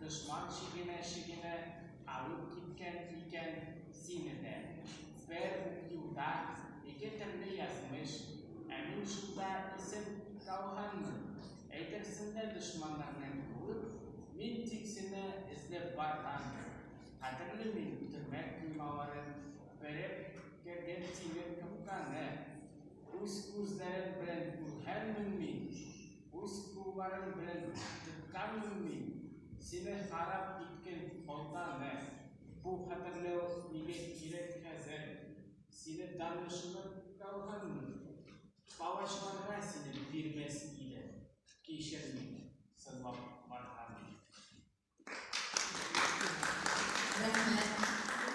Дошман чигенә-чигенә алып киткән икән сине дә. Бер үк юлда ике төрле язмыш, ә мин шунда исем калганмын. Әйтерсең лә дошманнарны куып, мин тик сине эзләп баргандыр. Хәтерли мин төрмә коймаларын бәреп кергән тимер капканы. Үз күзләрем белән күргәнмен мин. Үз кулларым белән тыкканмын мин сине харап иткән алда мә. Бу хәтерләү нигә кирәк хәзер? Сине данышынып калганмын. Палачларга сине бирмәс иде. Кичер мине, сынлап барган. Рәхмәт.